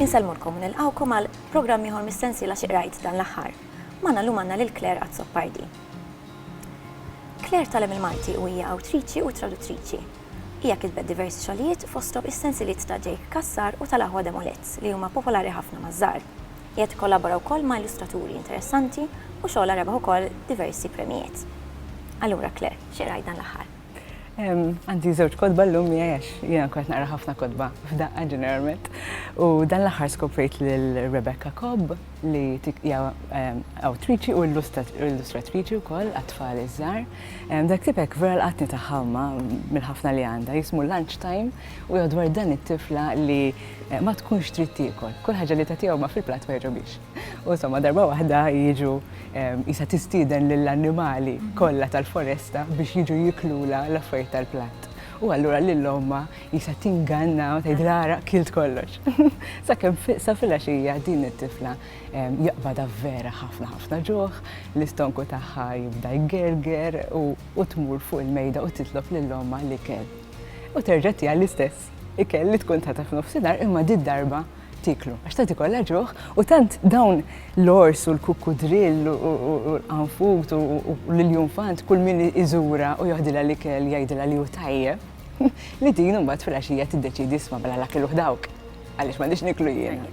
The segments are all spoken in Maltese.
Insellmulkom u nilqgħukom għal programm ieħor mis-sensiela Xi Qrajt dan l-Aħħar. Magħna llum għandna lil Claire Azzopardi. Claire tgħallem il-Malti u hija awtriċi u traduttriċi. Hija kitbet diversi xogħlijiet, fosthom is-sensiliet ta' Jake Cassar u tal-aħwa Demolets, li huma popolari ħafna maż-żgħar. Hija tikkollabora wkoll ma' illustraturi interessanti u xogħolha rebaħ ukoll diversi premjijiet. Allura, Claire, xi qrajt dan l-aħħar? Għandi żewġ kotba llum miegħi għax jiena nkun qed naqra ħafna kotba f'daqqa ġeneralment, u dan l-aħħar skoprejt lil Rebecca Cobb li hija awtriċi u illustratriċi wkoll għat-tfal iż-żgħar. Dak tip hekk vera lqatni tagħha imma mill-ħafna li għandha. Jismu lunch time u jgħod dwar dan it-tifla li ma tkunx trid tiekol. Kull ħaġa li tagħtiha huma fil-platt ma jogħġobhiex. U insomma darba waħda jiġu qisha tistieden lill-annimali kollha tal-foresta biex jiġu jiklulha l-affarijiet tal-platt. U allura lil ommha qisha tinganna u tgħidilha ara kilt kollox. Sakemm sa filgħaxija din it-tifla Jaqbadha vera ħafna ħafna ġuħ, l-istonku tagħha jibda jgerger u tmur fuq il-mejda u titlob lil ommha l-ikel. U terġa' tiha l-istess ikel li tkun tagħtha f'nofsinhar imma di darba tiklu. Għax tant ikollha ġuħ u tant dawn l-ors u l-kukkudrill u l-qanfut u l-iljunfant kull min iżura u joħdilha l-ikel jgħidilha li hu tajjeb li din imbagħad fil-għaxija tiddeċiedi isma' mela l-akil uħ dawk. Għaliex m'għandix niklu jien.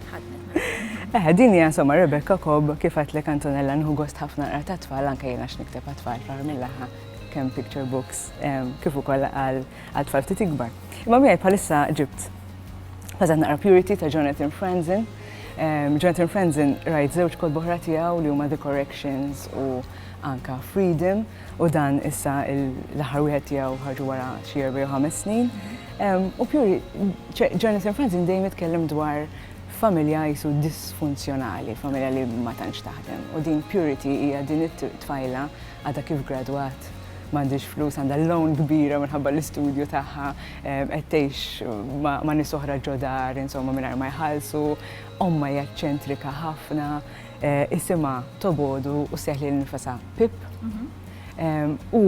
Eħe, din hija insomma Rebecca Cobb kif għatlek Antonella nħu gost ħafna naqra ta' tfal anke jiena x'nikteb għat-tfal fl mill-aħħa kemm picture books kif ukoll għal tfal ftit ikbar. Imma miegħi bħalissa ġibt Pazat naqra Purity ta' Jonathan Franzen. Jonathan Franzen rajt żewġ kod boħra tiegħu li huma The Corrections u anka Freedom. u dan issa l-aħħar wieħed tiegħu ħarġu wara xi erba' jew ħames snin. U pjuri, Jonathan Franzen dejjem jitkellem dwar familja jisu disfunzjonali, familja li ma tantx taħdem. U din Purity hija din it-tfajla għadha kif gradwat m'għandix flus għandha l-loan kbira minħabba l-istudju tagħha qed tgħix ma' nies oħra ġodar, insomma mingħajr ma jħallsu, omma hija ċentrika ħafna. isimha Tobogħdu u ssejjaħ lilha nnifisha Pip. U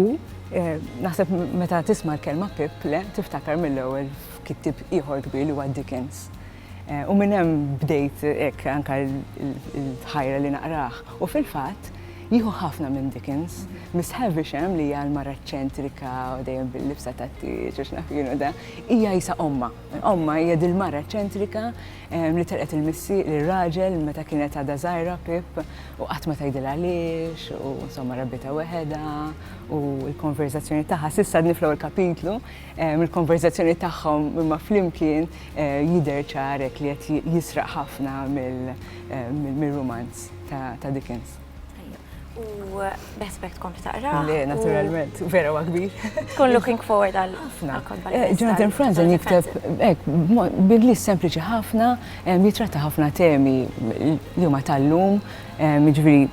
naħseb meta tisma' l-kelma Pip, le, tiftakar mill-ewwel f'kittieb ieħor kbir li huwa Dickens. U minn hemm bdejt hekk anke l-ħajra li naqrah. U fil-fatt, jieħu ħafna minn Dickens. Miss Havisham, li hija l-mara eċċentrika u dejjem bil-libsa tat-tieġ u x'naf jien u da, hija qisha ommha. Ommha hija dil-mara eċċentrika Li telqet il-missi, lir-raġel meta kienet għadha żgħira Pip u qatt ma tgħidilha għaliex u insomma rabbitha weħedha u l-konverżazzjoni tagħha s'issa għadni fl-ewwel kapitlu, mill-konverżazzjoni tagħhom imma flimkien jidher ċar hekk li qed jisraq ħafna mir-rumanz ta' Dickens. U beħsbek tkun taqra. Le, naturalment, vera wa kbir. Tkun looking forward għal. Ħafna. Eh, Jonathan Franzen jikteb, ek, bidli sempliċi ħafna, eh, jitratta ħafna temi li huma tal-lum, eh, ġviri,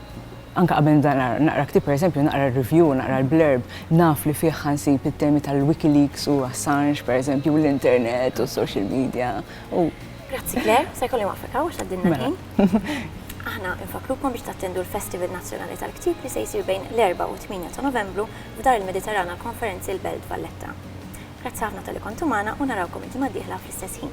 anka qabel naqra ktib, per eżempju, naqra review, naqra l-blurb, naf li fih ħansib it-temi tal-Wikileaks u Assange, per eżempju, l-internet u social media. Grazzi, Claire, se kolli waqfek għaw, xaddin mela. Aħna nfakkrukom biex tattendu l-Festival Nazzjonali tal-Ktieb li se jsir bejn l-Erbgħa u t-Tmienja ta' Novembru f'Dar il-Mediterran għall-Konferenzi l-Belt Valletta. Grazzi ħafna talli kontu magħna u narawkom il-ġimgħa d-dieħla fl-istess ħin.